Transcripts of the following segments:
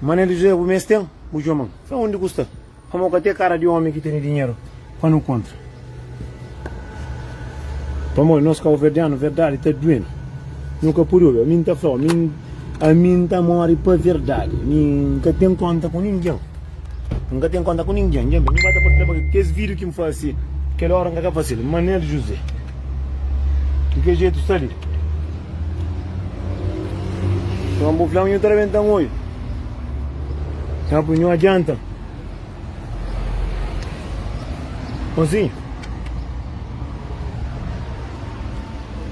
Manel di José, bu mes ten? Bu txoman? Sa undi ku sta? Pamó ka te kara di omi ki tene dinheru pa nu kontra. Pamó nos kauverdianu verdadi ta duenu. Nu ka pudi obi. Ami N ta flau, ami N ta mori pa verdadi. Mi N ka ten konta ku ningen. N ka ten konta ku ningen Dja ben N ba ta partilha pa kê Kes vídiu ki N fase kel óra N ka ta fase-l Manel José Di ke jetu sta li Nton bu fla-m nhu ta rabenta-m oi Nha pui nhu adianta Konsinhu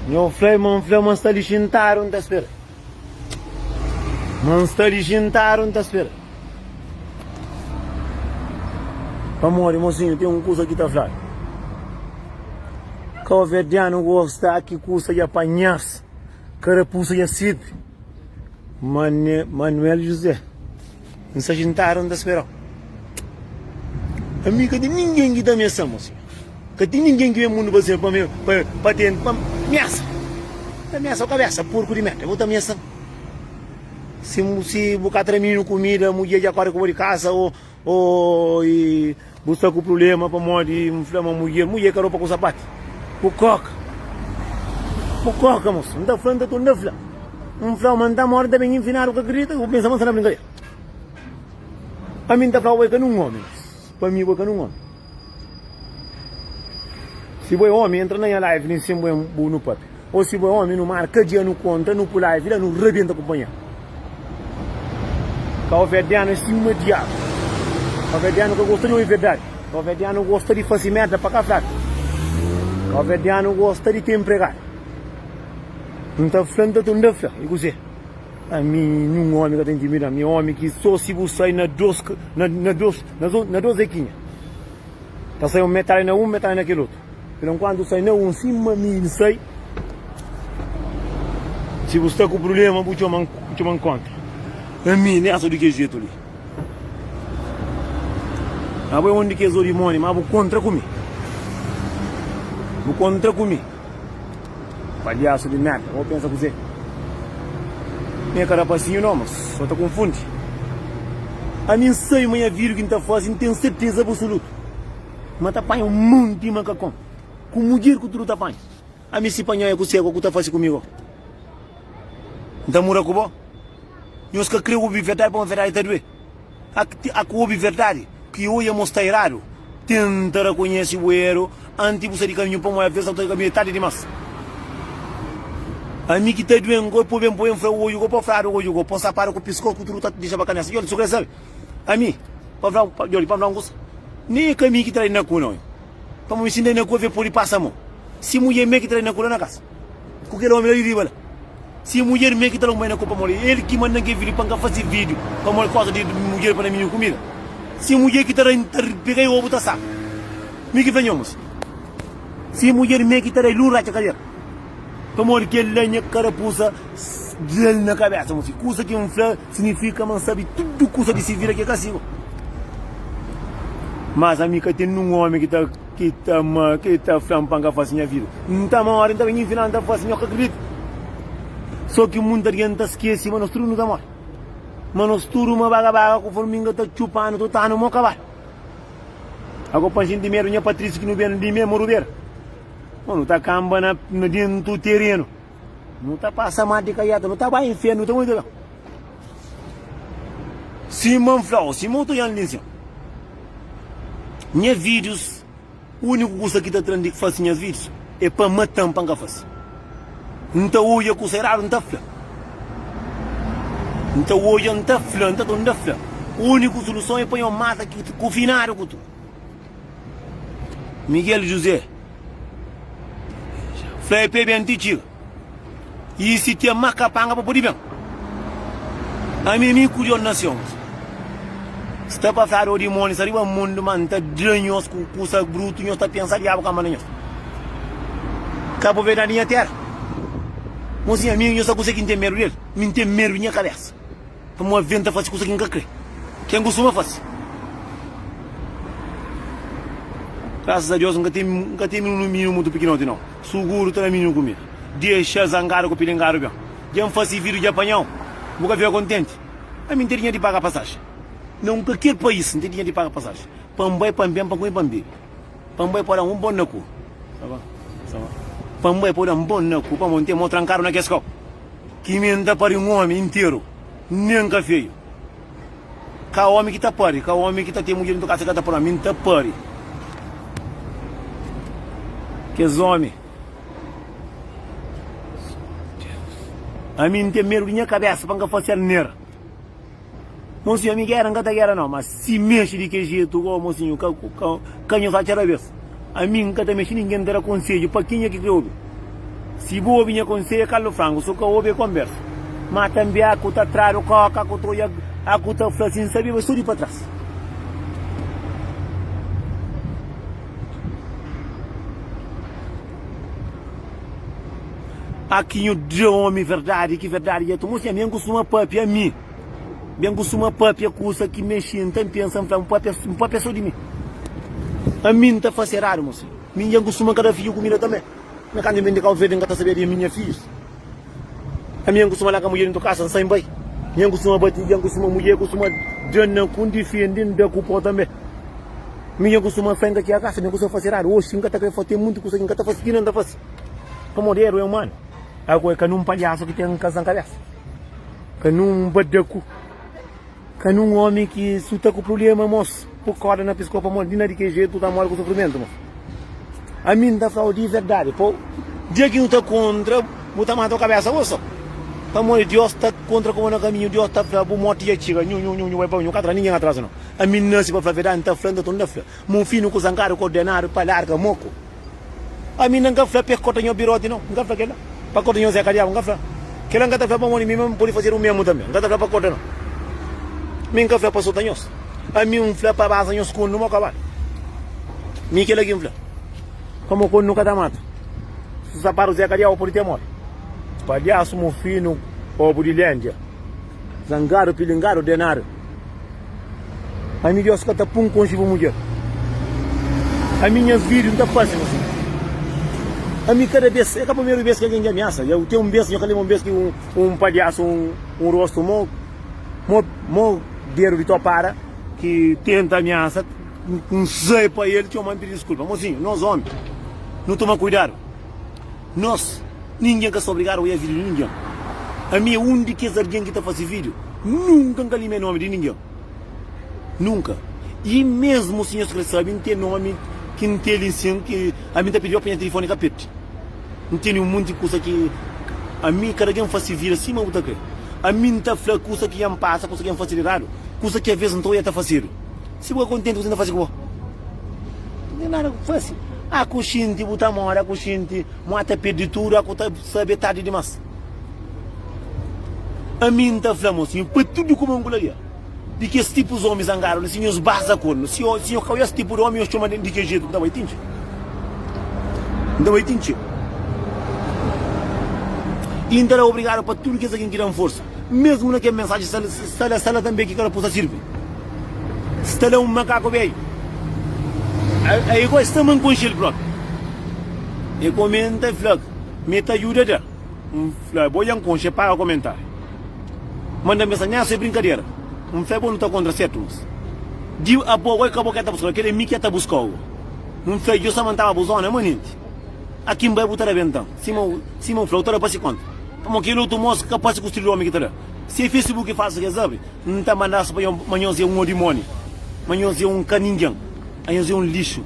Nhu fla-i ma N fla ma N sta li xintadu N ta spera. Má N sta li xintadu, N ta spera. Pamodi, mosinhu, ten un kusa ki ta fla-l, Kabuverdianu gosta ki kusa dja panha-s, karapusa dja sirbi. Manuel José. N sa xintadu, N ta spera-u Ami ka ten ningen ki ta amesa-m Ósi ka ten ningen ki ben mundu pa ser Pa ten pa miasa Ta miasa-u kabesa, purku di merda, bo ta amesa-m Si bu ka tra minu kumida, mudjer dja kordi ku bo di kasa, o, o, i. Bu sta ku prublema pamodi N fla ma mudjer mudjer ka ropa ku sapati? Bu koka Bu koka mosu N ta fla N ta tunda fla N flau ma N ta mori N ta ben infinadu ka kridita Bu pensa ma N sta na brinkader Ami N ta flau bo ka nun omi Pa mi bo ka nun omi Si bo é omi entra na nha live li N sen bo é bu nu pape. Ô si bo é ómi nu mara ka dja nu konta nu pula ivi la nu rabienta ku panha. Kaoverdianu é sima diabu. Kaoverdianu ka gosta di oi verdadi. Kaoverdianu gosta di fase merda pa ka fladu. Kaoverdianu gosta di ten pregadu. N ta fla, N ta toma, N ta fla. I kuzê? Ami nhun ómi ka ta intimida-m. Mi é ómi ki sô si bu sai na dôs, na dôs, na dôs ekinha ta sai un metadi na un, metadi na kel otu. Pur enkuantu sai na un sima mi N sai Si bu sta ku prubléma bu txoma-m N txoma-m kontra ami N asa di kes jetu li Ma bu é un di kes ô dimoni Ma bu kontra ku mi Bu kontra ku mi Palhasu di merda Bo pensa kuzê N é ka rapasinhu nau Mas so ta konfundi Ami N sai ma nha vida ki N ta faze N ten serteza abusulutu. Ma ta panha un monti makakon ku mudjer ku tudu ta panha. Ami si panhau e ku segu, ku ta fasi ku mi go? N ta mura ku bo? Nhos ka kre obi verdadi pamodi verdadi ta due. Ak ak obi verdadi ki oja mos ta eradu. Tenta rakonhesi bu eru anti bu sai di kaminhu pamodi aves sa bu ta di kaminhu e tardi dimas. Ami ki ta duen go e poben poben fra oju go, po fradu oju go, po sapadu ku piskos ku tudu ta dixaba kanesa. Djol, su kre sabi. Ami, pa fla-u, pa, djori, pa fla-u un kusa, nen é ka mi ki tra-i na ku, non. Pamodi mi sintá-i na ku, ave pode pasa mo. Si mudjer me ki tra-i na ku la na kasa, ku kel omi la di riba la. Si é mudjer me ki tra-u bai na ku, pamodi é el ki manda-m kel vídiu pa N ka fase vídiu, pamodi gosta di mudjer pa na mi kumida. Si mudjer ki tra-i, N ta pega-i obu ta saba. Mi ki fla nha mos, Si mudjer me ki tra-i, lu N ratxa kadera, pamodi kel-la nha karapusa da-l na kabesa. Mos, kusa ki N fla. Signifika ma N sabe tudu kusa di si vida ki é kasigu. Mas ami ka ten nin un ómi ki ta ki ta ma ki ta fla-m pa N ka fase nha vida. Nta ma óras N ta ben infina N ta fase nha kakredita. Sô ki munta di-el N ta skese ma nos tudu nu ta móre. Ma nos tudu ma baga-baga ku forminga ta txupa-nu tuta anu mo kabal. Ago pa N xinti medu nha Patrisi ki nu ben di mé moru bera. Ô nu ta kanba na na dentu terenu. Nu ta pasa má di kaiata nu ta bai infiernu nu ta muri ta Sima N flau, sima otu ojan li nsin nha vídius Úniku kusa ki ta tra-m di fase nha vídius é pa mata-m pa N ka fase N ta odja kusa eradu N ta fla N ta odja N ta fla N ta ta N ta fla Úniku suluson é pa nhos mata ki ta kufinadu ku tudu. Miguel José fla el pa e ben ti txiga. I si ten má kapanga pa pode ben. Ami mi ku Jon Nasions sta pafia do dimónis ariba mundu ma N ta dra nhos ku kusa brutu nhos ta pensa Diabu ka manda nhos ka propriedadi di nha tera. Mô si ami nhos ta konsegi N ten medu del? Mi N ten medu di nha kabesa. Pamodi ben ta fase kusa ki N ka kre, ki N kustuma fase. Grasas a Deus, N ka ten ka ten mininu mininu mutu pikinoti nau. Suguru ta na mininu ku mi. Dexa-l zangadu ku pilingadu ben. Dja N fase vidu dja panha-u. Bu ka fika kontenti? Ami N ten dinheru di paga pasaji na un kalker pais. N ten dinheru di paga pasaji pa N bai, pa N ben, pa N kume, pa N bebe. Pa n bai pa da-m un bon na ku Sa va, sa va Pa n bai pa da-m bon na ku Pamo n ten mo trankadu na kes kopu Ki mi n ta pari un omi interu Nen ka feyu Ka omi ki ta pari Ka omi ki ta ten mudjer intukável Sa ka ta pari ma mi n ta pari Kes omi Ami n ten medu di nha kabésa Pa n ka fase-l nera. Mosinhu ami gera nka ta gera nau ma si mexe di ke jetu go mosinhu ka ka nhu sa cada vez ami nka ta mexe ninguem ta da konsedju pa kenha ki kre obi si bu obi nha konseia kalu frangu so ka obi e konbersa ma tambi aku ta tradu koka aku ta oia aku ta fla sin sabi ba so di pa tras. A ki nhu dja omi verdadi, ki verdadi dja ta mostra nha. Mi N kustuma pâpia mi, mi N kustuma pâpia kusa ki mexi, N ta pensa, N fla, N pâpia, N pâpia sô di mi. Ami N ta fase eradu, mô. Mi N dja N kustuma ka da fidju kumida tanbê. Má kantu N ben di Kabu Verdi, N ka ta sabia di ami i nha fidjus. Ami N kustuma laga mudjer intu kasa N sai N bai Nha N kustuma bati dja N kustuma mudjer kustuma dja-na ku N difende N da ku po tanbe Mi dja N kustuma fenka txia kasa dja N kustuma fase eradu oxi N ka ta kre fase ten muntu kusa ki N ka ta fase ki na N ta fase pamodi eru é umanu Aku é ka nun palhasu ki ten kasa na kabesa ka nun badaku. Ka nun omi ki su ta ku prubléma mos pu korda na piskó pamodi di na di kel jetu bu ta modi ku sufrimentu mos ami n ta flau di verdadi po dia ki nu ta kontra bu ta mata bu kabésa bo so pamodi dios ta kontra ku bo na kaminhu dios ta fla bu morti dja txiga nhu nhu nhu bai pa nhu ka tra ningen atras no ami n nasi pa fla verdadi n ta fla n ta torna fla mon finu ku zankadu ku ordenadu pa larga mo ku. Ami, N ka fla pa el korta nho biroti, nau. N ka fla kela. Pa korta nho zeka diabu, N ka fla. Kela N ka ta fla pamodi mi mame pode fazer o mesmo tambe. N ka ta fla pa korta, nau. Mi N ka fla pa sota nhos. Ami, N fla pa basa nhos kondu mo kabal. Mi kela ki N fla. Pa mo kondu ka ta mata. Su sapadu zeka diabu pode temor. Palhasu, mofinu, obu di lendia. Zangadu, pilingadu, denadu. Ami Deus ka ta pun konxe bu mudjer Ami nhas vídiu n ta faze mas Ami kada bes é ka primeru bes ki algen dja amiasa dja ten un bes nha ka lenbra un bes ki un palhasu un rostu mo mo dedu di topara ki tenta amiasa n sai pa el txoma n pidi diskulpa mozinhu nos omi nu toma kuidadu Nos, Ningen ka sta obrigadu oiá vídiu di ningen. Ami é un di kes algen ki ta fase vídiu. Nunka N ka limê nomi di ningen. Nunka. I mesmu si nhos krê sabe, N ten nomi ki N tê li sin ki ami N ta pidi-pa pa nha tilifoni ka perde. N tene un monti kusa ki ami, kada algen fase vida sima bu ta krê. Ami N ta fla kusa ki nha N pasa, kusa ki nha N fase di eradu, kusa ki aves N ta oiá ta fasedu. Si bu ka kontenti ku se, N ta fase ku bo. N ten nada ku fase. A ku xinti bu ta mora, a ku xinti mo a ta pirdi tudu, a ku ta sabe tardi dimas. Ami N ta fla-mo si, pa tudu kuma N ku labia, di kes tipu zomi zangadu li, si nhos baza kornu, si nhos ka oja es tipu di omi, nhos txoma di kes jetu ku ta bai tinti. N ta bai tinti. I N ta da obrigadu pa tudu kes algin ki da-m forsa. mesmu na kel mensaji sta la sta la tanbe ki karapu ta sirbi sta la un makaku beiu a i gosta ma n konxe el propi e komenta e fla mi ta juda da n fla bo dja n konxe e paga komentari manda mesa nha so e brinkadera n fla bo nu ta kontra setu mas di apo goi ka bo ke ta buskau kel e mi ke ta buskau n fla jo sa ma n tava bu zona manenti aki n bai bu ta da bentan sima sima n fla u ta da pasi konta. Pamó kel otu mosa ka parse ku stil di omi ki ta da. Se facebook e falsu kes abri n ta mandas pa ma nhos e un odimoni ma nhos e un ka ninguem a nhos e un lixu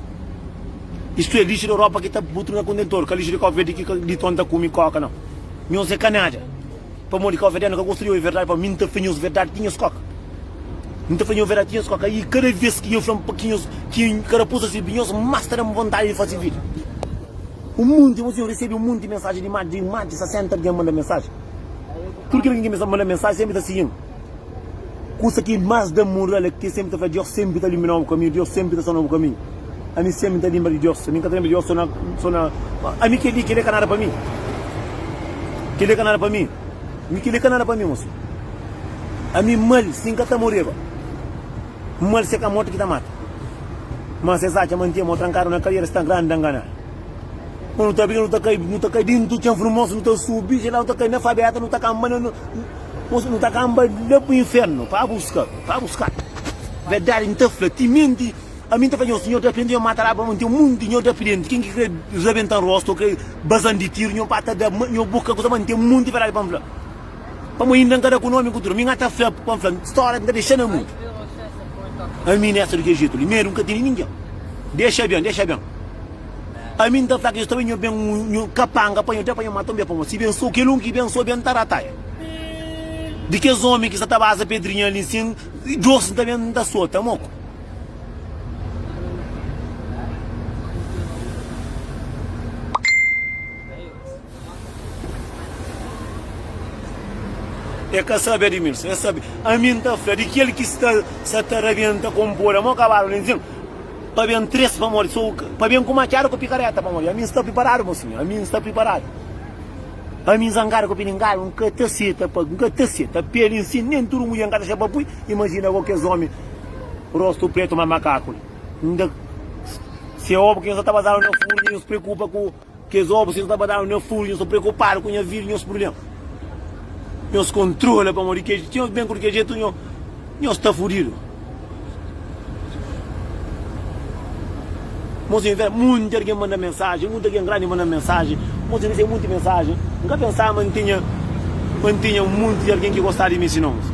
istu e lixu de ropa ki ta butu na kontentor ka lixu de kofeverde ki ka di ton ta kumi koka nao nhos e ka nada pamó di kofeverdeno ka gosta di obi verdadi pamó mi n ta fla nhos verdadi ki nhos koka n ta fla nhos verdadi ki nhos koka i kada ves ki nhos flam pa ki nhos ki karapusa sibi nhos mas ta dam vontadi di fasi vida. Un monti bos ten resebe un monti mensaji di imagi di imagi sa senta algen manda mensaji tudu kel algen ki mesa manda mensaji senpri ta sigi-m kusa ki mas da moral é ki senpri ta fla diós senpri ta ilumina-m bu kaminhu diós senpri ta sona-m bu kaminhu ami senpri ta lenbra di diós ami ka ta lenbra di diós so na so na ami kel-li kel-li é ka nada pa mi kel-li é ka nada pa mi mi kel-li é ka nada pa mi mosi ami mal si n ka ta moreba. Mal se ka mortu ki ta mata. Mas es atxa ma N ten mô trankadu na kadiera, es sta grandi ta ngana. K'o nu ta briga, nu ta kai, nu ta kai dintu txen furmosu, nu ta subi dje la, nu ta kai na fabeta, nu ta kanba na, mos, nu ta kanba la pa infernu pa buska, pa buska. Verdadi N ta fla, timenti ami N ta fla nhos, nho dapidenti, nho mata la, pamodi N ten munti di nho dapidenti, ken ki kre rebenta-m rostu, o kre baza-m di tiru, nho ba ta da, ma nho bu ka kuza, ma N ten munti verdadi pa N fla. Pamo inda N ka da ku nomi ku tudu mi N ata fla pa N fla stória ki N ta dexa na mundu Ami nesta di kel jetu li medu N ka tene ningen Dexa ben, dexa ben Ami N ta fla ki es ta bai nho ben Nho kapanga pa nho te pa nho mata un bia pamo Si ben so kel un ki ben so ben ta rataia Di kes omi ki sta ta baza pedrinha li nsin Djos N ta ben N ta sota moko E ka sabe Admilson, e sabe. Ami N ta fla di kel ki sta sa ta rabienta kon poda mo kabalu na inzin pa ben tres pa modi so pa ben ku matxadu ku pikareta pamodi ami N sta priparadu mo sinhor ami N sta priparadu ami N zangadu ku pilingalu N ka ta seta pa N ka ta seta peli N sin nen tudu mudjer N ka ta xe pa pui imajina bo kes omi rostu pretu ma makaku li N da se obi ku nhos ta ta bazaba na furmi nhos preokupa ku. Kes obus ki nu ta ba danu na furu, nhos ta preokupadu ku nha vida, nhos prubléma. Nhos kontrola pamodi ke, si nhos ben ku di kel jetu, nho, nhos sta fudidu. Mos inve, munti algen manda mensajen, munti algen grandi manda-m mensajen, mos resebe munti mensajen. N ka pensaba ma N tinha, ma N tinha munti di algen ki gostaba di mi sima nhos.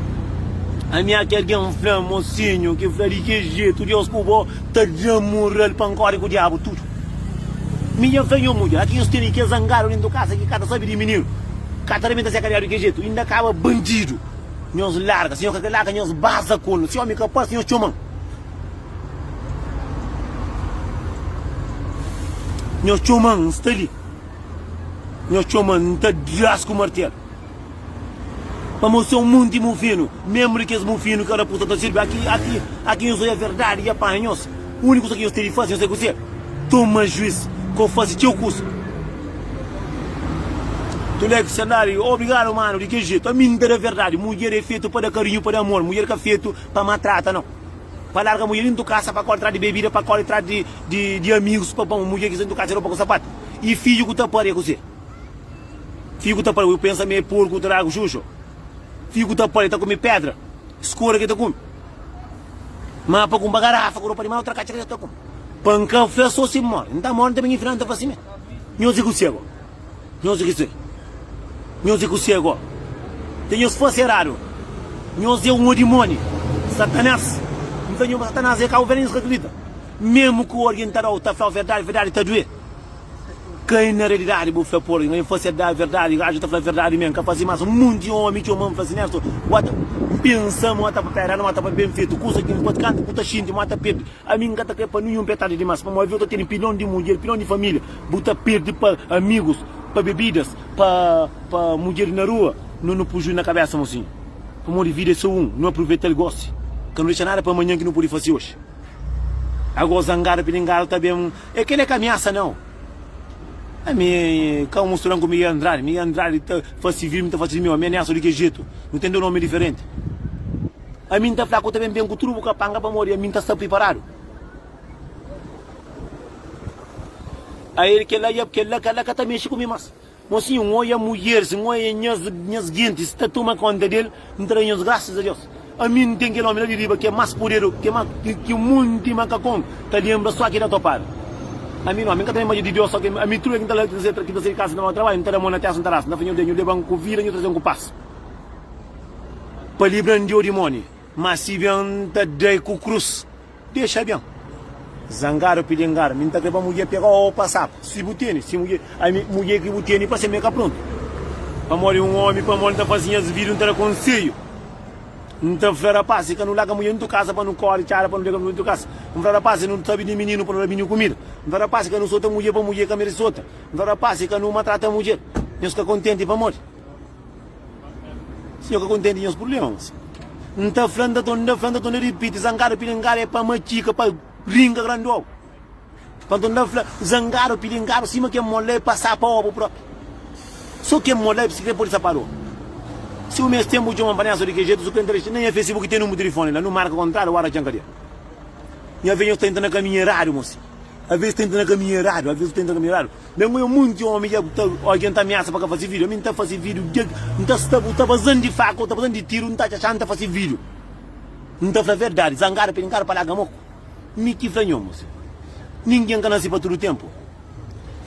Amiâ ki algen fla-m, Mosinhu, ki fla di ki jetu, Deus ku bo ta da-m moral pa N kóre ku Diabu tudu. Mi nha kanhon mudja, la ki nhos tene kel zangadu dentu kasa ki ka ta sabe di mininu, ka ta rebenta se kariadu di kel jetu, inda kaba bandidu, nhos larga, si nhos ka ke larga nhos baza ku el, si omi ka parse nhos txoman, nhos txoman, N sta li, nhos txoman, N ta dras ku martelu. Pamo se um munti mufinu, mesmo de kes mufinu que raposa ta sirbi, aqui, aqui, aqui nhos oi a verdade e apanha nhos. Único coisa que nhos tem de fazer, nhos sabe kuzê? Toma juiz, que oi fazi txeu kusa. Tuleco Sandari, Obrigado mano, de que jeito? Ami nta da verdade, mulher é feito pa da carinho, pa da amor, mulher ka feito pa matrata nao. Pa larga mulher dentu casa pa corre tras de bebida, pa corre tras de amigos, pa pamo mulher ki sta dentu casa é ropa ku sapatu e filho ku ta pâria kuzê? Figu ta pala, bu pensa ma e porku ku ta da agu xuxu? Figu ta pala, e ta kume pedra, skora ke ta kume. Ma pa kumpa garafa ku ropa di mal, tra katxa ke ta kume. Pa N ka fla so si N more, N ta more, N ta bini final, N ta fla simé. Nhos i ku se go? Nhos i ku se? Nhos i ku se go? Te nhos fase eradu? Nhos e un odimoni, Satanas. N fla nhos ma Satanas e ka bu, vela nhos ka kridita. Memu ku algen ta dau, ta flau verdadi, verdadi ta due. Ka e na realidadi bu fla por algen fla si el da verdadi ajo ta fla verdadi mi nka fazi mas un monti omi txoma-m fla si Nesto bu ata N pensa ma bu ata pa pera nu ata pa ben fetu kusa ki npoti kantu ki bu ta xinti ma ata perdi ami nka ta kre pa ninhun petadi dimas pamodi eu ta tene pilon di mudjer pilon di familia bu ta perdi pa amigus pa bebidas pa pa mudjer di na rua nu nu puju na kabesa mosinhu pamodi vida e so un nu apruvetal gosi ka nu dexa nada pa manhan ki nu pudi fasi oxi ago zangadu pilingadu ta ben. E kele ka amiasa nau. Ami ka un musturan ku Miguel Andrade. Miguel Andrade ta fasi sivil, mi ta fasi miu. Ami amiasa di ke jetu. Nu ten du nomi diferenti. Ami N ta fla ku ta ben, ben ku tudu bu kapanga pamodi ami N ta sta priparadu. Aer kela, kela ka la ka ta mexi ku mi mas. Mosinhu, N oia mudjeris, N oia nhas, nhas gentis ta toma kónta di el, N ta da nhos grasas a Deus. Ami N ten kel ómi la di riba ki é más poderu ki más ki monti makakon ta lenbra só ki ta topadu. Ami nau, ami N ka ta lenbra-dja di Deus, só ki ami tudu el ki N ta la, ki ta sai, ki ta sai di kasa na mau trabadju, N ta da mon na testa, N ta rasta, N ta fla, Nhu da, Nhu leba-m ku vida, Nhu traze-m ku pas, pa libra-m di odimóni, má si ben N ta da-i ku krus. Dexa ben. Zangadu pilingadu, mi N ta krê pa mudjer pega-u ô pa sapa. Si bu tene, si mudjer, ami, mudjer ki bu tene pa se mi é ka prontu. Pamodi un ómi, pamodi N ta faze nhas vidu, N ta da konsedju, N ta fla rapás, si ka nu laga mudjer nutru kaza pa nu kóre txada pa nu dega mudjer nutru kaza. N fla rapás, si nu sabe di mininu pa nu da mininu kumida. N fla rapás, si ka nu sota mudjer pa mudjer ka merse sota. N fla rapás, si ka nu matrata mudjer, nhos ka kontenti pamodi. Sinhor ka kontenti nhos prublemas. N ta fla, N ta ton, N ta fla, N ta ton, N ta ripiti, zangadu pilingadu é pa matxika, pa ringa grandi obu. Pa nton N ta fla, zangadu pilingadu sima ken mol la é pa sapa obu propi. So ken mol la é sikrê podi sapadu obu. Si bu meste ten bu txoman pa nha so di ke jetu, su kenta na nha facebook ten numru di tilifoni la, nu marka kontradu ora txan ka dia. Nha ve nhos ta intra na kaminhu eradu, mosi. Aves tenta na kaminhu eradu, aves bu tenta na kaminhu eradu. Bem ku eu munti omi ja ku ta odja nta ameasa pa ka fasi video, ami nta fasi video dia ki nta sta bu ta bazan di faca ou ta bazan di tiro nta txatxa nta fasi video. Nta fla verdadi, zangada pedi nkada pa laga moku. Mi ki fla nhon mose. Ninguen ka nasi pa tudu tempu.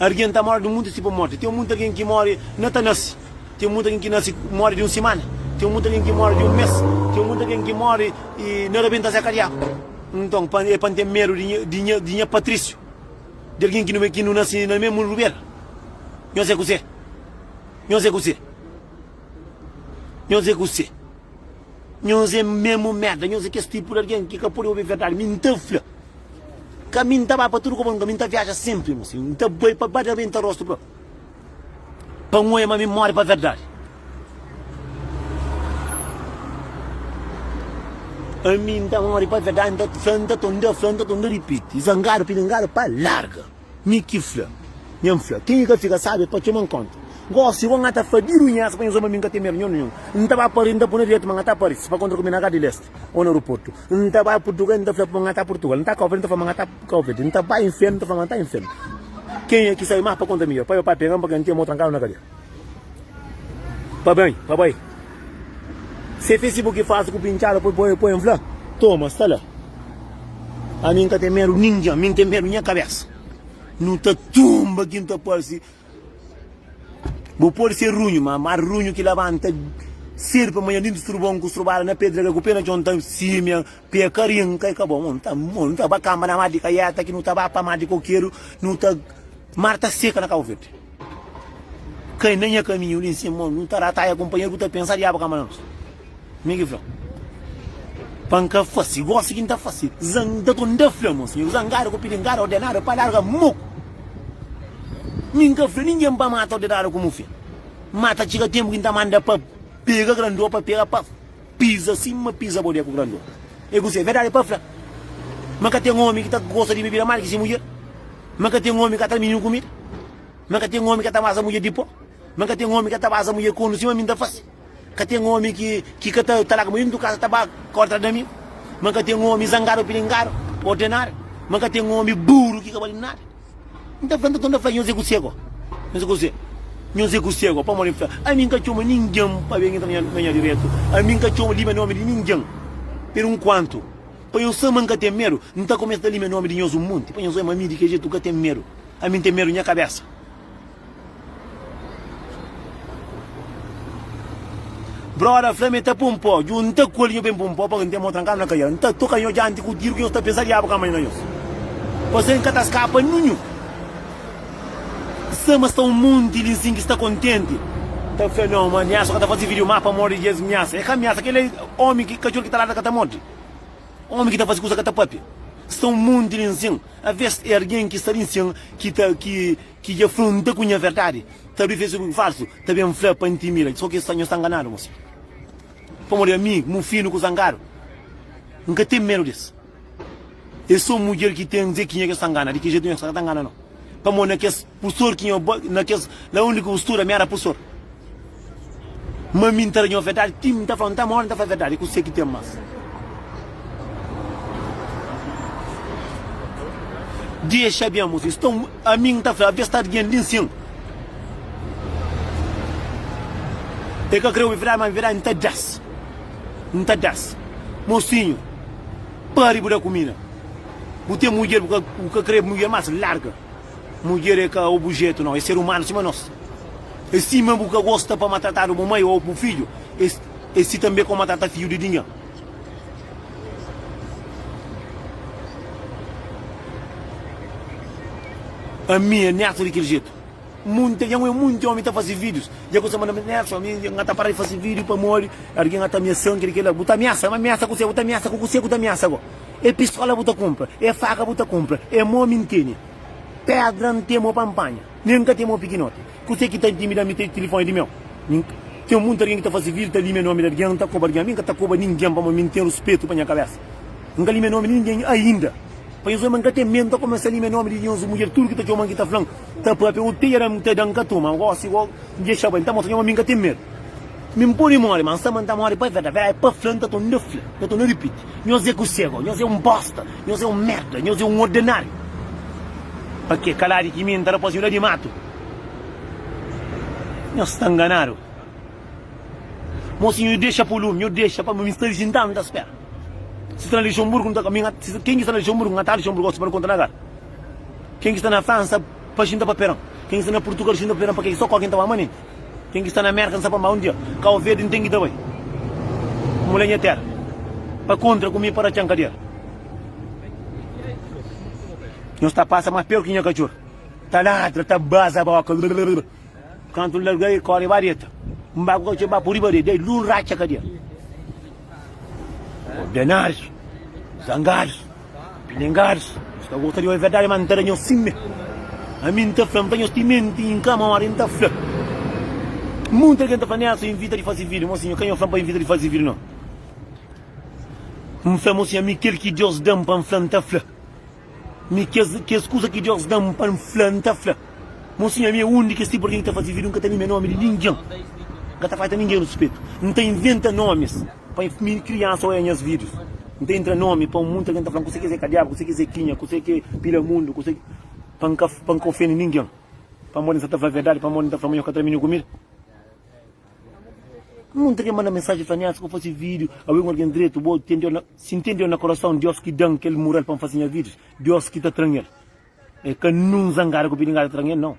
Arguen ta mora di munti si pa morti. Teo munti arguen ki mori na ta nasi. Ten mutu algen ki nase ku mori di un simana, ten mutu algen ki mori di un mes, ten mutu algen ki mori y na rabenta se kadiaku. Nton, pa é pa N ten medu di nha, di nha, di nha Patrísiu, di algen ki nu, ki nu nase na mesmu luber? Nho se kuse? Nho se kuse? Nho se kuse? Nho se mesmu merda, nho se kes tipu di algen ki ka pode obi verdadi. Mi N ta fla, ka mi N ta ba pa tudu koba lugar, mi N ta viaja senpri, N ta bai pa ba rabenta rostu propi. Pa N oia ma mi móre pa verdadi Ami N ta móre pa verdadi N ta ta fla N ta ta N ta fla N ta ta N ta ripiti Zangadu pilingadu pa larga Mi ki fla Nha N fla Kenha ka fika sábi pa txoma-m kónta Gósi bo N ata fla Di runhesa pa nhos oba mi N ka ten medu nhon-nhon N ta ba parese N ta bu na direita ma N ata parese Pa kontra ku mi na Gárdia di Leste. Ou na aeroporto N ta bai Portugal, N ta fla pa N ta Portugal N ta Cabo Verde, N ta fla ma N ta Cabo Verde N ta bai inferno, N ta fla ma N ta inferno Quem é que sai mais pa conta minha? Pai ou pai pega-m pa quem tem ou trancá-lo na cadeia Pa bem, pa bai Se Facebook fácil ku pinchada poi poi poi fla Toma, sta la Ami N ka tem medo ninguém, mi N tem medo nha cabeça Nu ta tumba ki N ta parsi Bu pode ser runhu, ma mar runhu ki labanta ser pa manha dintu strubon ku strubada na pedra ka ku pé na txon ta simia pé ka rin kai ka bon o nta o nta ba kamba na mar di kaiata ki nu ta ba pa mar di kokeru nu ta mar ta seka na kabo verde kai na nha kaminhu li nsin mon nu ta rataia kunpanheru ku ta pensa diabu kamba nos. Mi ki fla, pa N ka fase gosi ki N ta fase zangadu, N ta fla, Mo sinhor, zangadu ku pilingada ordenadu pa larga moku. Mi N ka fla ningen pa mata ordenadu ku mufia, ma ta txiga tenpu ki N ta manda pa pega grandô, pa pega pa piza sima piza bodé ku grandô. E ku si, e verdadi pa fla, ma ka ten omi ki ta gosta di bebida mal ki si mudjer, ma ka ten omi ka tra mininu kumida, ma ka ten omi ka ta basa mudjer di po, ma ka ten omi ka ta basa mudjer kondu sima mi N ta fase. Ka ten omi ki ki ka ta ta laga maridu ntu kasa ta ba kontra da mi, ma ka ten omi zangadu ô pilingadu, ordenadu, ma ka ten omi buru ki ka bali nada. N ta fla, nton, N ta fla nhos é ku se go? Nhos é ku se? Nhos é ku se go? Pamodi N fla, ami N ka txoma ningen pa ben yentra na nha direitu, ami N ka txoma lime nomi di ningen per nkuantu, pa nhos sa ma N ka ten medu. N ta kumesa ta lime nomi di nhos un monti, pa nhos oja ma ami di kel jetu N ka ten medu, ami N ten medu nha kabesa. Broda fla ma e ta pô-m pó dju N ta kolhe nho ben pô-m pó pa ka N ten mô trankadu na kaiera N ta toka nho djanti ku tiru ki nhos ta pensa Diabu ka manha na nhos Pase N ka ta skapa ninhu Sa ma sta un monti li nsin ki sta kontenti Ta fla nho ma nha so ka ta faze video má pamodi di es miasa E ka miasa kel-li é ómi ki katxor ki ta ladra ka ta morde Ómi ki ta faze kuza ka ta pâpia Sta un monti li nsin Aves é algen ki sta li nsin ki ta ki Ki dja fla un ta ku nha verdadi ta abri facebook ku falsu ta ben fla pa intimida so ki esta nho sta nganadu mos pamo di ami mu finu ku zangadu n ka ten medu des es so mudjer ki ten ze ki nha ke sta ngana di ki jetu nha ke sta ka ta ngana no pamo na kes pustor ki nho na kes la undi ku studa mi era pustor. Ma mi N ta da nho verdadi Ti N ta fla N ta mori N ta fla verdadi Ku se ki ten mas di es xabia Mos isto ami N ta fla Avia stadu gen di nsin E ka kre obi verdadi Ma verdadi N ta da-s N ta da-s Mosinhu pari bu da kumida Bu ten mudjer bu ka kre mudjer mas Larga. Mudjer é ka obujetu, nau, é ser umanu sima nos. É sima bu ka gosta pa matratadu bu mai ô bu fidju, é é si tanbe kau matrata fidju di dingin. Ami é netu di kel jetu. Munte dja ngoi munte omi ta fase vidius, dja kuse manda mensaj, Nelson, ami nha ta para di fase vidiu pamodi algin a ta miasa-m, kel li kel la. Bu ta miasa-m? Miasa kuse? Bu ta miasa ku kuse ku ta miasa-go? É pistola bu ta kunpra, é faka bu ta kunpra, é mô mi N tene. Pédra N ten mô pa N panha, nen N ka ten mô pikinoti. Kuzê ki ta intimida mi? Ten tilifoni di meu? Mi ten monti algen ki ta faze vil, ta lime nomi di algen, ta koba algen. Mi N ka ta koba ningen, pamodi mi N ten ruspetu pa nha kabésa. N ka lime nomi di ningen ainda. Pa nhos omi, N ka ten medu, N ta kumesa lime nomi di nhos mudjer. Tudu ki ta txoma-m, ki ta fla-m, ta pâpia ô ta era-m, N ta da-m. Ka toma gósi ô dexa bai. N ta mostra nha ma mi N ka ten medu. Mi N pode móre, má N sta ma N ta móre pa verdadi. Verdadi pa fla, N ta torna fla, N ta torna ripiti. Nhos é kusego, nhos é un bosta, nhos é un merda, nhos é un ordenáriu. Pa ke kaladi ki mi N ta da pa siudadi di matu? Nhos sta nganadu. Mosinhu, nhu dexa pulume, nhu dexa pa mi sta li sintadu, mi ta spera. Si sta na Lixonburgu, nhu ta mi nga si ken ki sta na Lixonburgu nga ta Lixonburgu gosi pa nu konta na kal? Ken ki sta na Fransa, pa xinta pa Peron. Ken ki sta na Purtugal, xinta pa Peron, pa ke ki so ku algen ta ba manenti? Ken ki sta na Mérka, N sa pa ma un dia Kau Verdi N ten ki ta bai Mula nha téra Pa kontra ku mi para txan kadera Nhos ta pasa más pior ki nha katxor Ta ladra, ta baza boka rrrr Kantu N larga el kóre vareta N ba ku katxor ba pô riba rede Dai dlu N ratxa kadera Ordenaris, zangaris. Pilingaris, nhos ta gosta di obi verdadi, má N ta da nhos sime. Ami N ta fla, N fla nhos ti menti N ka móre. N ta fla, Monti algen ta fla, Nel so invita di fase vida. Mo Sinhor, ka nhos fla-m pa invita di fase vida, nau. N fla, Mo Sinhor, ami kel ki Diós da-m pa N fla, N ta fla. Mi kes kes kuza ki Diós da-m pa N fla, N ta fla. Mo Sinhor, ami é un di kes tipu di algen ki ta fase vida, N ka ta mia nómi di ningen. N ka ta fata ningen ruspetu. N ta inventa nómis. Pa mi kriansa oia nhas videos N ta intra nomi pa un monti algen ta fla-m kuse ki es é kadiaba, kuse ki es é kinha, kuse ki é pila mundu, kuse ki. Pa N ka pa N ka ofende ningen pamodi N sa ta fla verdadi, pamodi N ta fla ma nhos ka tra mi na kumida. Monti algen manda mensaji fla-m, nha, si bu fase video awe ku algen dretu bo ten Deus na. Si N ten Deus na kurason, Deus ki da-m kel mural pa N fase nha videos, Deus ki ta tra-m el. É ka nun zangada ku pidingada ta tra-m el, nau.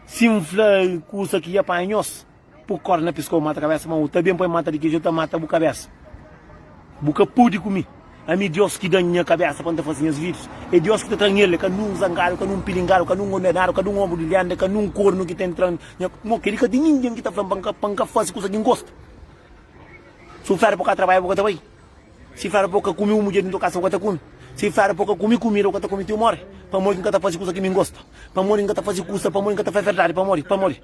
Sim fla kusa ki ya panha nhos Pu korda na piskau mata kabesa Ma u ta ben pa e mata di kiju ta mata bu kabesa Bu ka pudi ku mi Ami Dios ki da-m nha kabesa pa N ta fase nhas vidus E Dios ki ta tra-m el Ka nun zangadu Ka nun pilingadu Ka nun ondenadu Ka nun onbu di lenda Ka nun kornu ki ta entra nha Mo kedi ka ten ningin ki ta fla-m pa N ka fase kusa ki N gosta Si u fla di bu ka trabalha bu ka ta bai. Si fla-l pa u ka kume un mudjer di nton kasa, u ka ta kume. Si fla-l pa u ka kume kumida, u ka ta kume ti u mori. Pamodi ki N ka ta faze kusa ki mi N gosta? Pamodi ki N ka ta faze kusa? Pamodi ki N ka ta fla verdadi? Pamodi? Pamodi?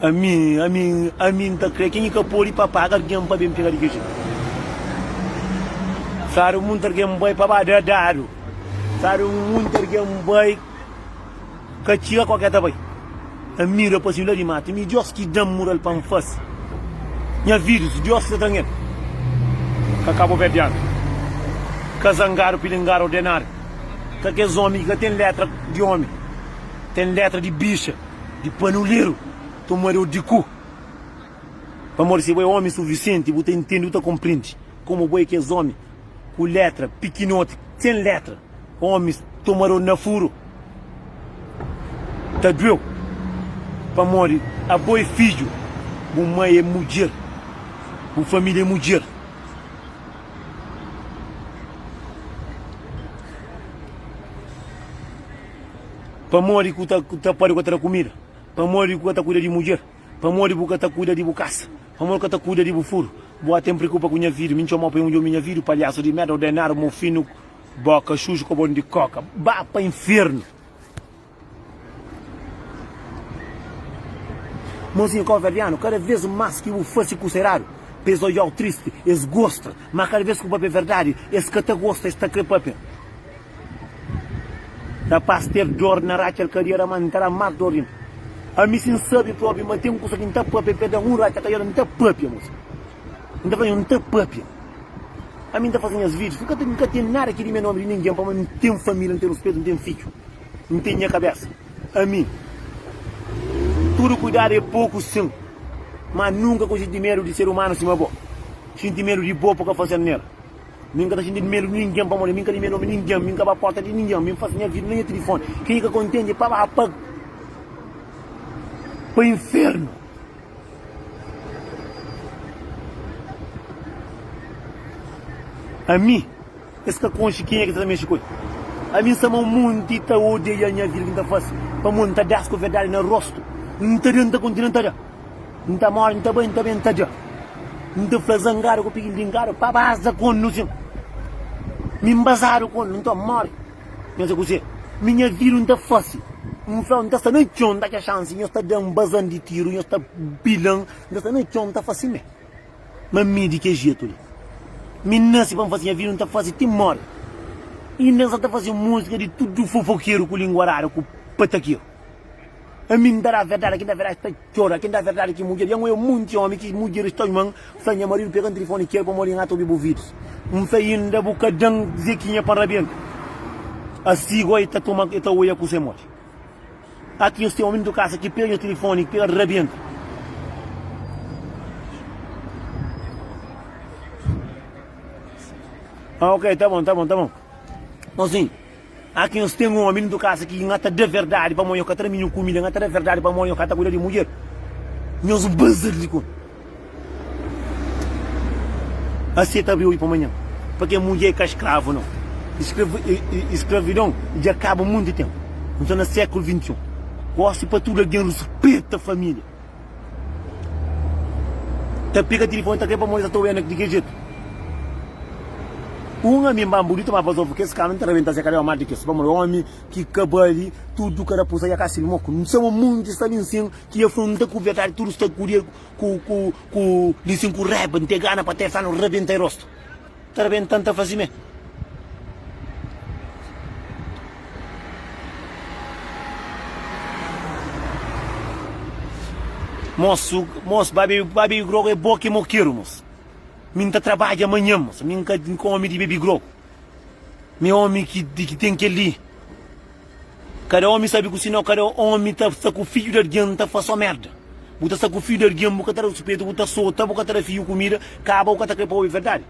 Ami, ami, ami N ta kre ken ki ka pode pa paga algen pa ben pega di kes djuntu Sadu munti algen bai pa ba da dadu Sadu munti algen bai ka txiga kau ke ta bai N mira pa sima la di matu mi Diós ki da-m mural pa N fase nha vidus Diós ki ta tra-m el Ka kabuverdianu ka zangadu pilingaru ordenadu Ka kes omi ki ka ten letra di omi ten letra di bixa. Di panuleru tomadu di ku Pamodi si bo é ómi sufisienti, bu ta intende, bu ta konprende Komu bo é kes ómi ku létra pikinoti, sen létra Ómis tomadu na furu ta dueu Pamodi abo é fidju, bu mai é mudjer, bu família é mudjer Pamodi ku ta pode ka ta da kumida? Pamodi ku ka ta kuida di mudjer? Pamodi bu ka ta kuida di bu kasa? Pamodi ku ka ta kuida di bu furu? Bu até N preokupa ku nha vidu, mi N txomau pa N odjomi nha vidu, palhasu di merda, ordenadu, mofinu, boka xuxu, kobon di koka, ba pa infernu. Mozinha káuverdianu, kada vez más ki bu fase kusa eradu, pa es odjau tristi, es gosta, má kada vez ku bu papia verdadi, es ka ta gosta, es ta kre papia. Rapás tev dor na ratxa el ka riera má N ta da más dor inda Ami si N sabe probi ma ten kusa ki N ta pâpia N perde un ratxa ka riera N ta pâpia N ta fla nhos N ta pâpia Ami N ta faze nhas vídius N ka ten nada ki rime nómi di ningen pamodi N ten família N ten ruspetu N ten fidju N ten nha kabésa Ami Tudu kuidadu é poku sin Má N nunka konxinti medu di ser umanu sima bo Xinti medu di bo pa ka faze-l nera. Mi n ka ta xinti medu di ningen, pamodi mi n ka dime nomi ningen, mi n ka ba porta di ningen, mi n pasa nha vida na nha tilifoni. Ken ki ka kontenti pa ba pa pa infernu. Ami, es ka konxe kenha ki ta ta mexe ku el. Ami n sama monti ta odiaia nha vida ki n ta fasi, pamodi n ta da-s ku verdadi na rostu. N ta da, n ta kontinua ta da. N ta móre, n ta bai, n ta ben, n ta dja N ta fla zangadu ku pikintin Kada pa baza kon nu sin Mi nbazadu kon nu, n ta móre Nhos é kuzê mi nha vida n ta fase N fla-u n ta sta na txon, n ta atxa xansi Nhos ta da-m bazan di tiru, nhos ta pila-m N ta sta na txon, n ta fase mê Ma mi di kel jetu li Mi nase pa n fase, nha vida n ta fase ti móre Inda n sa ta fase múzika di tudu fofokeru ku lingua radu ku patakeru. Ami N ta da verdadi, ki N da verdadi ki ta txora, ki N da verdadi ki mudjer. I ango é munti ómi ki mudjeris ta txoma-m, fla, Nha maridu pega-m tilifoni ki el pamodi N ata obi bu vidus. N fla, Inda bu ka da-m zekinha pa N rabienta? Asi gó el ta toma, el ta odja kusa módi. Aki nhos ten ómi dutu kasa ki pega nhos tilifoni, ki pega-l rabienta. Ah, ok, ta bon, ta bon, ta bon. Nton sin. A Ki nhos ten omi dintru kasa ki nha ta da verdadi pamo nho ka tra minho kumida nha ta da verdadi pamo nho ka ta kuida di mudjer nhos bazr di kon a seta abri oi pamanha pakê mudjer ka skravu nau e skravidon dja kaba munti tenpu nho ta na sekulu 21 gosi pa tudu algen ruspeta familia. Ta pika tilifoni ta kai pa mô-l i ta ta oianek di ke jetu. Un ami mba mbudu i ta ba pa Zovu. Kes kanu ta rabenta se kabéu. Má di kes pamodi ómi ki ka ba li, tudu kada kusa dja kasi mô. Ku N sabe, monti sta li nsin ki el fla, N ta kubi a tardi tudu, sta kuria ku li nsin ku raiba. N ta gana pa ta el fla-m, N rabenta-i rostu. Ta rabentan ta fazi me. Mos mos ba bebi ba bebi grogu é bo ki mo keru mos mi nta trabadja manhan mos mi nka nka omi di bebi grogu mi omi ki ki ten kel li Kada omi sabi ku sinau kada omi ta sta ku fidju di algin ta fla so merda bu ta sta ku fidju di algin bu ka ta da ruspeitu bu ta sota bu ka ta da fidju kumida kaba u ka ta kre pa obi verdadi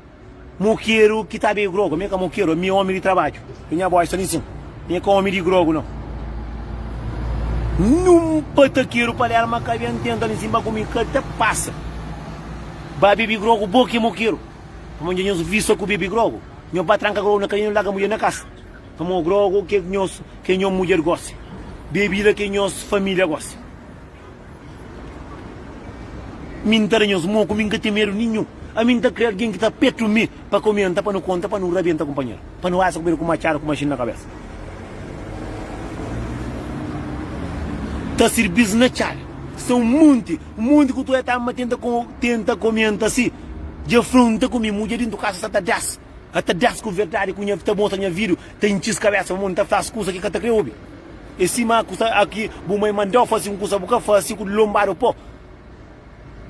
mokeru ki ta be grogu ami ka mokeru ami omi di trabadju i nha boy sta linsin mi e ka omi di grogu no nun pa ta keru pa lel ma ka ben tenta linsin ba ku mi ka ta pasa ba bebi grogu bo ki mokeru pamodi nha nhos visa ku bebi grogu nhos ba tranka grogu na kamion laga mudjer na kasa. Toma grogu ke ke nhos ke nho mudjer gosi bebida ke nhos família gosi mi nta da nhos moku mi nka ten medu ninhun ami nta kre algen ki ta petu mi pa komenta pa nu konta pa nu rabenta kunpanher pa nu asa ku bedu ku machadu ku mashin na kabesa ta sirbis na txal sta un monti un monti ku tu e ta ama tenta tenta komenta si dja fronta ku mi mudjer dintu kasa sa ta das. Ata dés ku verdadi ku nha ta mostra nha vidu ta intxis kabésa pamodi n ta fla-s kusa ki ka ta kre obi. É sima a kusa a ki bu mai manda-u fase un kusa bu ka fase ku lonbadu po.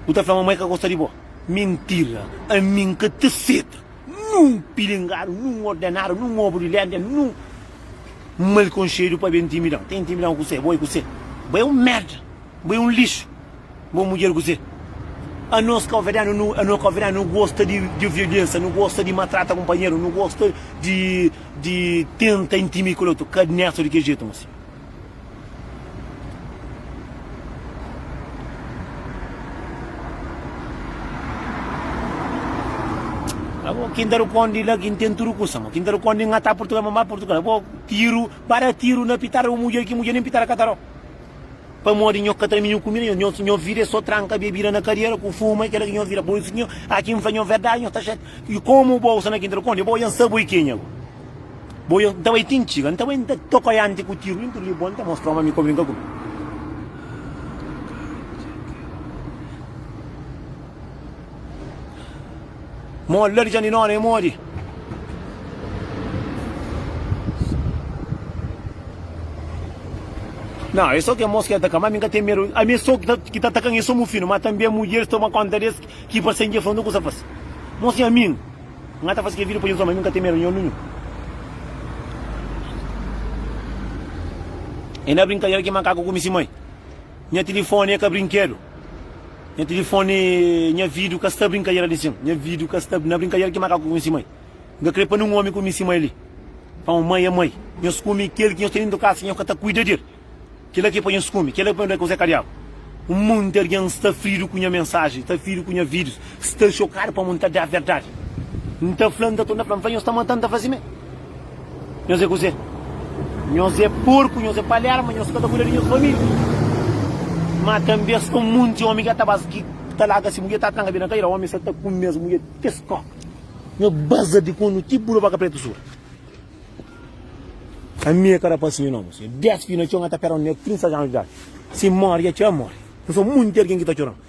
Bu ta fla ma mai ka gosta di bo. Mintira! Ami n ka ta seta nun pilingadu, nun ordenadu, nun obu di léndia, nun mal konxedu pa ben ntimida-m. Ta intimida-m kusé? Bo é kusé? Bo é un merda! Bo é un lixu bo mudjer kuzê anos kaverdianu nu anos kaverdianu nu gosta di di violensa nu gosta di matrata kunpanheru nu gosta di di tenta intimi kel otu ka nesta di kel jetu mos abo kin ta rukondi la kin ten tudu kusa mo kin ta rukondi ngata purtugal ma ma purtugal abo tiru bada tiru na pitara un mudjer ki mudjer nin pitara ka ta ro Pamodi nho ka tra minhu kumida, nho nho vida é só tranka bebida na kadera ku fuma, é kela ki nho vida. Pur isu nho a ki N fla nho verdadi, nho ta xatia. I komu bo usa na kintal kondi, bo ya N sa bo i kenha go. Bo ya N ta bai ti N txiga, N ta bai N ta toka ianti ku tiru i N ta li bo, N ta mostra ma mi ka brinka ku bo. Mo ladi dja ni nona e modi. Não, é só que moço que ataca, mas nunca tem medo. A minha só que tá, que tá atacando é só meu filho, mas também mulheres tomam conta desse que passam de frente, não coisa faz. Moço é a mim. Não tá fazendo que vida para Jesus, mas nunca tem medo, não, não. E na brincadeira que macaco come se mãe. Nha tilifoni é ka brinkedu Nha tilifoni Nha vidu ka sta brinkadera di sin Nha vidu ka sta na brinkadera ki makaku kunsi mai N ka kre pa nin omi kunisi mai li Pa un mai é mai Nhos kumi kel ki nhos ten dentu kasa nhos ka ta kuida di el Kila ki pa nhos kumi Kila ki pa nhos da kuzé ka diabu Un monti algen sta fridu ku nha mensaji Sta fridu ku nha vidus Sta xokadu pamo N ta da verdadi N ta fla N ta torna fla N fla nhos ta mata-m ta fazi mé. Nhos é kuzê? Nhos é porku, nhos é palerma, nhos ka ta kuida di nhos família. Má tanbê es ten un monti ómi ki é ta ba-s ki ta laga se mudjer ta tranka be na kadeira. Ómi sta ta kume es mudjer ti es kóka. Nhos baza di kóndu ti bu da baka prétu suri. Ami é ka rapás si nha nomi. Nhos é dés fidju na txon, nha ta pera-m nen 30 anu di idadi. Si móre, dja txeu, N móre. Nhos sta monti algen ki ta txora-m.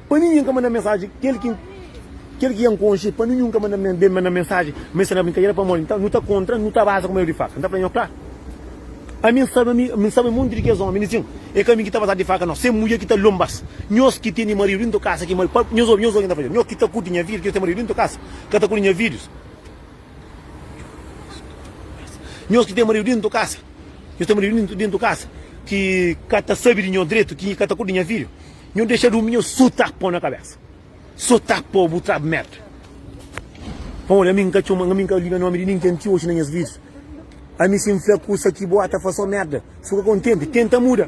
Pa ninhin ka manda mensaji kel ki kel ki ya nkonxi pa ninhun ka manda ben manda mensaji ma es ta na brinkadera pamodi nta nu ta kontra nu ta baza kuma el di faka nta fla nho kla ami nsabe ami ami nsabe monti di kes omi di sin e ka ami ki ta bazadu di faka no se mudjer ki ta lonbas nhos ki teni maridu dintu kasa ki mal pa nhos obi nhos obi nta fla nho ki ta kuti nha fidju ki nhos teni maridu dintu kasa ka ta kuti nha fidjus nhos ki teni maridu dintu kasa nhos teni maridu dintu kasa ki ka ta sabi di nho dretu ki ka ta kuti nha fidju. Nhu dexa durmi nhu so ta po na kabesa so ta po bu trab merd pamodi ami nka txoma ami nka liga nomi di ningen ti oxi na nhas vidas ami si nfla kusa ki bo ata fla so merda fika kontenti tenta muda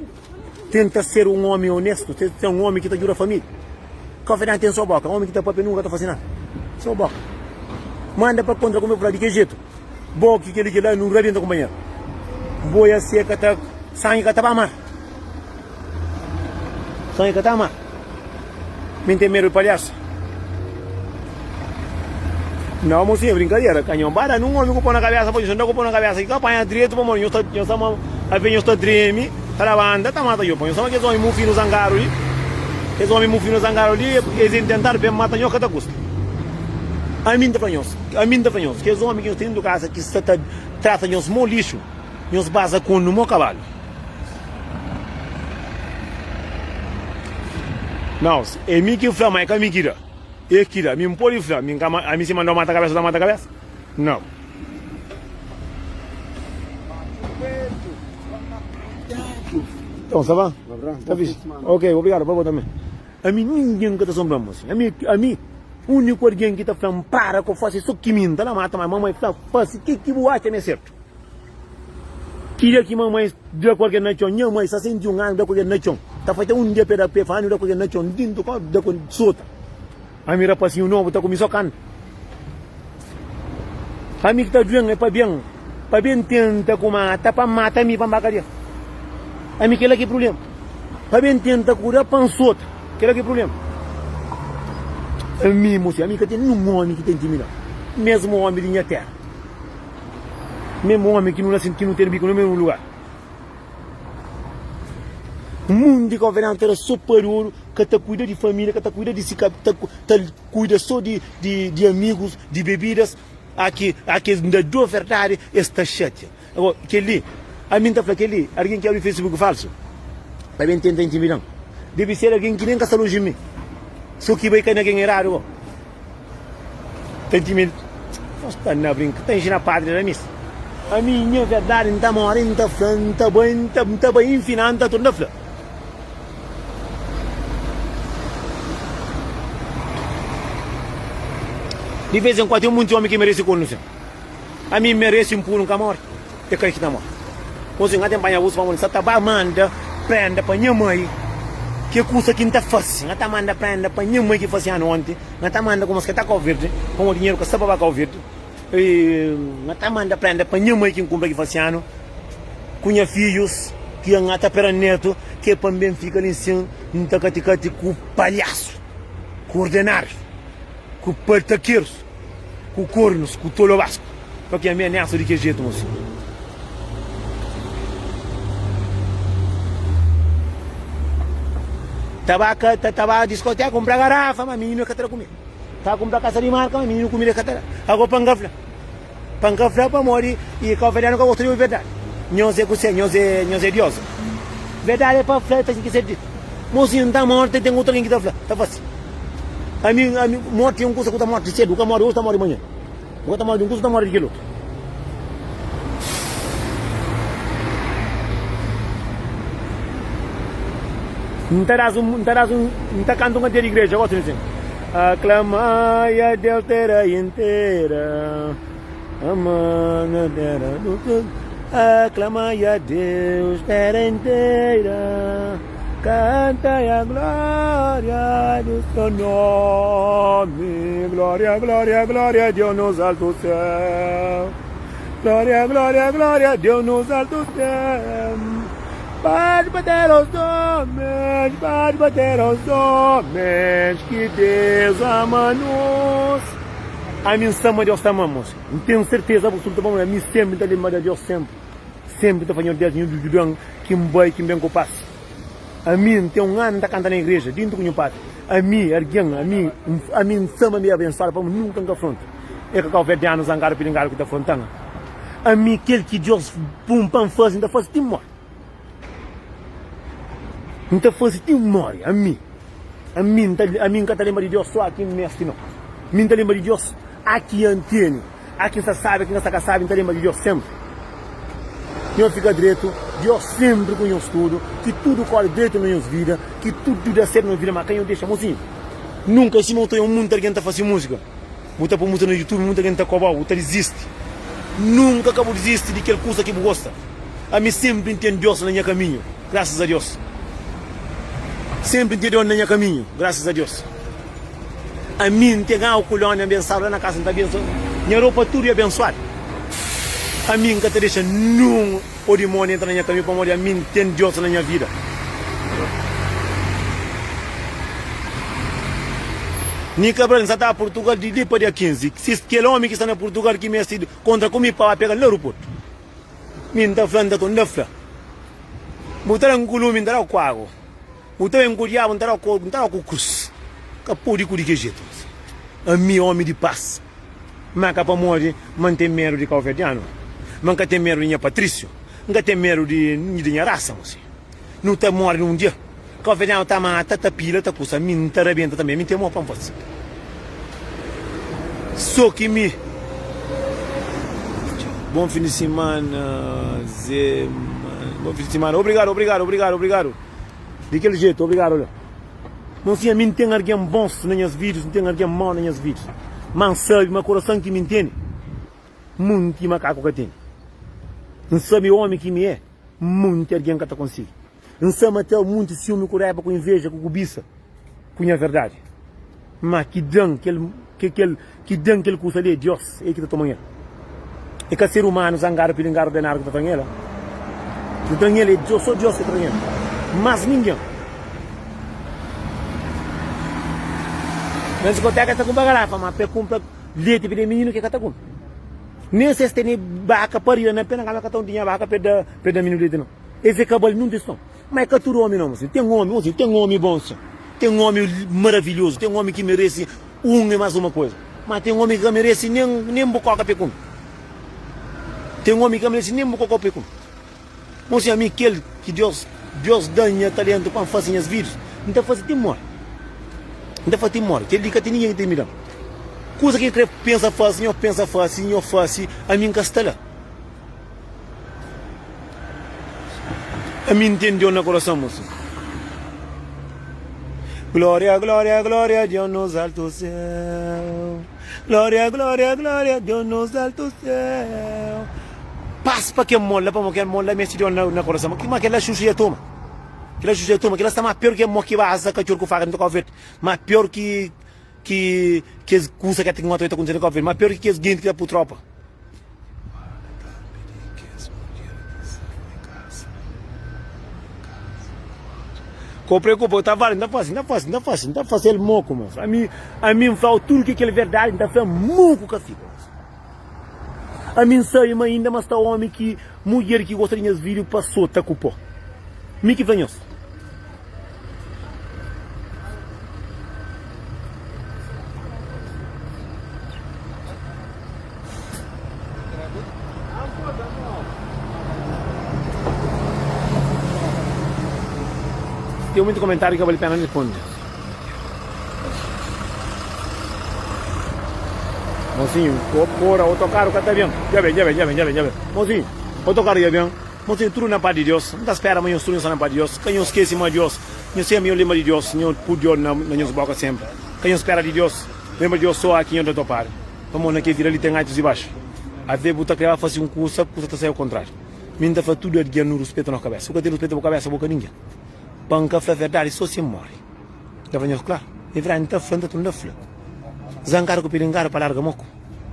tenta ser un omi onestu tenta ser un omi ki ta djuda familia konfidenti ten so boka omi ki ta papia nunka ta fase nada so boka manda pa kontra ku mi fla di ke jetu Bo ki keli ki la nu rabienta kunpanheru Boia seka ta sangi ka ta ba mar Sangi ka ta mar Mi n ten medu di palhasu Não, mocinha, brincadeira. Canhão para num homem com pão na cabeça, pode andar com pão na cabeça. Que apanha direito, pão, nós tá, nós tá, a ver, nós tá treme, tá na banda, tá mata, eu, pão. Nós tá, aqueles homens mufinos zangaram ali. Aqueles homens mufinos zangaram ali, eles tentaram bem matar, nós, que tá custa. A mim, tá, nós. Ami N ta fla nhos, kes ómi ki nhos ten dentru di kaza ki sta ta trata nhos mau lixu, nhos baza ku un di mau kabalu. Nãos, é mi ki fla, ma é ka mi ki da. É ki da, mi N pode fla, mi N ka manda, ami si manda-u mata kabésa, bu ta mata kabésa? Nãu. Nton, sa ba? Ta fisi? Ok, obrigadu pa bo tanbê. Ami, ningen ka ta sonbra-m, mon sinhor. Ami, ami. Uniku algen ki ta fla N para ku fósi é so ki mi. N ta na mata mai. Mamai fla fósi, Ke ki bu atxa ma é sertu? Ki dia ki mamai da ku algen na txon, nha mai sa senti un anu da ku algen na txon. Ta fatxa un dia pa e da pé, fa anu da ku algen na txon. N tintu kónta da ku sota. Ami rapasinhu nobu ta ku mi so kanta. Ami ki ta duen é pa ben Pa ben tenta ku mata pa mata mi pa mba kadia Ami kela ki prubléma Pa ben tenta ku da pan sota kela ki prubléma Ami mos ami ka ten ninhun ómi ki ta intimida Mesmu ómi di nha téra Mesmu ómi ki nu nase ki nu ten biko na mesmu lugar Mundu di governanta éra so pariódu ka ta kuida di família ka ta kuida di si ka ta ta. Kuida so di di amigus di bebidas aki aki es nda do verdadi es ta xatia ago keli ami nta fla keli argen ki abri facebook falsu ta ben tenta intimidan debi ser argen ki nen ka sta lonji di mi so ki bai kai na ken eradu ago ta intimida nhos sta na brinka ta inxina padri ramis ami nha verdadi nta mora nta fla nta bai nta bai nfina nta tur nda fla. Di vez en kual ten munti omi ki meresi kondenasãu. Ami N meresi N punu N ka mori, e ka e ki ta mori. Gosi N ka ten panha uzu pamodi N sa ta ba manda prenda pa nha mai ke kusa ki N ta fasi. N ka ta manda prenda pa nha mai ki fasi anu onti. N ka ta manda kumas ke ta Kauverdi pamodi dinheru ka sta pa ba Kauverdi. E N ta manda prenda pa nha mai ki N kunpra ki fase anu, ku nha fidjus ki N ta pera netu, ke pa N ben fika li nsin N ta kati-kati ku palhasu, ku ordenarius, ku partakerus, ku kornus, ku tolobasku, pa ki ami anesu di kes jetu, mo sinhor. Taba ka ta taba diskoteka kunpra garafa, ma mininu e ka tra ku mi. Ta kunpra kasa di marka, ma mininu kumida ka ta da. Ago pa N ka fla, pa N ka fla pamodi i ka ovelhanu ka gosta di obi verdadi. Nhos é kusé? Nhos é, nhos é dios? Verdadi é pa fla, é pa sin ki ser ditu. Mosinhu, N ta morti, ten otu algen ki ta fla, ta fasi. Ami, ami, morti é un kusa ku ta morti sedu, ka mori oji, ta mori manhan. Bo ta móre di un kuza, ta móre di kel otu. N ta das un, N ta das un, N ta kanta un kantiga di igreja, gosi di sinta. Aklamai a Deus tera intera, amana tera do Aklamai a Deus tera intera. Kanta ya gloria di so nomi Gloria, gloria, gloria Deus nos alto céu Gloria, gloria, gloria Deus nos alto céu Pode bater os homens Pode bater os homens Que Deus ama nos Ami N sama Deus ta ama-m N ten serteza absoluta pa modi ami senpri N ta lenbra di Deus senpri. Senpri N ta fadja ordias di nhu Judan ki N bai, ki N ben ku pas. Ami, N ten un anu N ta kanta na igreja, dintu ku nhu patri. Ami, argen, ami, ami N sama mi abensuadu pamodi N nunka N ka fronta e ka kau fedja anu zangadu pilingadu ki ta fronta-m. Ami, kel ki Dios pun pa N fasi, N ta fasi ti N mori. N ta fasi ti N mori. Ami, ami, ami N ka ta lenbra di Dios so aki N mesti, no. Mi N ta lenbra di Dios aki N teni. Há quem sa sabe, quem ka sa ka sabe, nta lenba di Diós sempre Ki nhos fika dretu, Diós sempre ku nhos tudu Ki tudu kore dretu na nhos vida, ki tudu da sertu na vida Ma ka nhos dexa mozinhu nunka Sima u ta io munta algen ta fase musika Bu ta po musika na youtube munta algen ta kobau, u ta dizisti Nunka ka bu dizisti di kel kusa ki bu gosta Ami sempre n ten Diós na nha kaminhu, graças a Diós Sempre n ten Diós na nha kaminhu, graças a Diós. Ami N ten agu kolónia abensádu la na kasa N ta abensoa nha ropa tudu é abensoadu Ami N ka ta dexa nin o dimóni entra na nha kamiu pamodi ami N ten Dios na nha vida Ni ka bra N sa ta Purtugal di li pa dia 15 si kel omi ki sta na Purtugal ki meste di kontra ku mi pa ba pega-l na aeroportu Mi N ta fla N ta konta N ta fla N bu ta da-m kulume N ta da-u ku agu. Bu ta ben ku diabu, N ta dau ku krus. Ka podi ku di ki jetu si. Ami, omi di pas, ma ka pamodi ma N ten medu di kauverdianu, ma N ka ten medu di nha patrisiu, N ka ten medu di nha rasa. Mo si nu ta mori na un dia, kauverdianu ta mata, ta pila, ta kusa, mi N ta rabenta tanbe. Mi N ten amor pa N fasi so ki mi. Bon fin di simana, Zé. Bon fin di simana. Obrigadu, obrigadu, obrigadu, obrigadu. Di kel jetu, obrigadu Aleu. Mon Sinha, mi N ten argen bons na nhas vidus, N ten argen mau na nhas vidus. Má N sabe ma kurason ki mi N tene, munti makaku ka tene. N sabe ómi ki mi é, munti argen ka ta konsigi. N sabe ma até munti siumi ku raiba ku inveja ku kubisa, ku nha verdadi. Má ki dan kel ki dan kel kusa li é Diós, é el ki ta toman el. É ka ser umanu zangadu, pilingadu, denadu ki ta tran el. Ki ta tran el é Diós, sô Diós ki ta tran el, más ningen. Na diskotéka es ta kunpra garafa, má pa el kunpra leti pa da mininu, ki el ka ta kunpra. Nen si es tene baka pa riba, na pé na kaba el ka ta unti nha baka pa el da mininu leti nau. Es é ka bali nunde es sta. Má é ka tudu ómi nau, mon senhu. Ten ómi, mon senhu, ten ómi bon, sin. Ten ómi maravilhozu, ten ómi ki merese un i más uma kuza. Má ten ómi ki ka merese nen, nen bu kóka pekun. Ten ómi ki ka merese nen bu kóka pekun. Mon senhu, ami kel ki Deus, Deus da-m nha taléntu pa N fase nhas vídius, N ta fase ti N móre. N ta fase ti N móre. Kel-li ka ten ningen ki ta imida-m. Kuza ki nhos krê pensa fase, nhos pensa fase, nhos fase, ami N ka sta la. Ami ntende Djon na korason moço. Glória, glória, glória, Deus nos alto céu. Glória, glória, glória, Deus nos alto céu. Paz para quem mola, para quem mola, mexe Deus na, na coração. Mas aquela é xuxa e toma. Aquela xuxa e toma, aquela está mais pior que a moca e baza, cachorro com faca, não toca o verde. Mais pior que Ki kes kusa ka ten otra ta kontise na Cabo Verde ma pior ki kes genti ki ta pur tropa. Ko preokupa yo ta fala N ta fasi, N ta fasi, N ta fasi, N ta fasel moku mas ami ami N flau tudu ki kel verdadi N ta fla moku ka fika. Ami N sabe ma inda ma sta omi ki mudjer ki gosta di nhas fidju pa sota ku po. Mi ki fla nhos. Ten mutu komentariu ki ka bali pena responde. Mosinhu, ko kora, otokaru ka ta ben. Dja ben, dja ben, dja ben, dja ben, dja ben. Mosinhu, otokaru dja ben. Mosinhu, tudu na pati di Dios. N ta spera, ma nhos tudu nhos sta na pati di Dios. Ka nhos skesi ma Dios, nhos senbra nhos lenbra di Dios, nhos pudi djor na nhos boka senbra. Ka nhos spera di Dios, lenbra di Dios so aki nhos ta topadu. Pamodi na kel vida li ten altus i baxu. Ave bu ta kreba fasi un kusa, kusa ta sai au kontrariu. Mi N ta fla tudu algin nu ruspeta nos kabesa. Bu ka ten ruspeta bu kabesa, bu ka ningen. Pa N ka fla verdadi so si N móre Da fla nhos klaru Di verdadi N ta fla, N ta tunda fla Za N kada ku pidi N kada pa larga Mo ku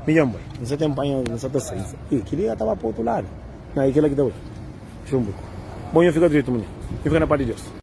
mi dja N bai N sa ten panha N sa ta sai N sa Ih kel li ka ta ba pa otu ladu Nha i kel la ki ta bai Xunbuku Bo nho fika dretu munhe Nho fika na pá di Deus.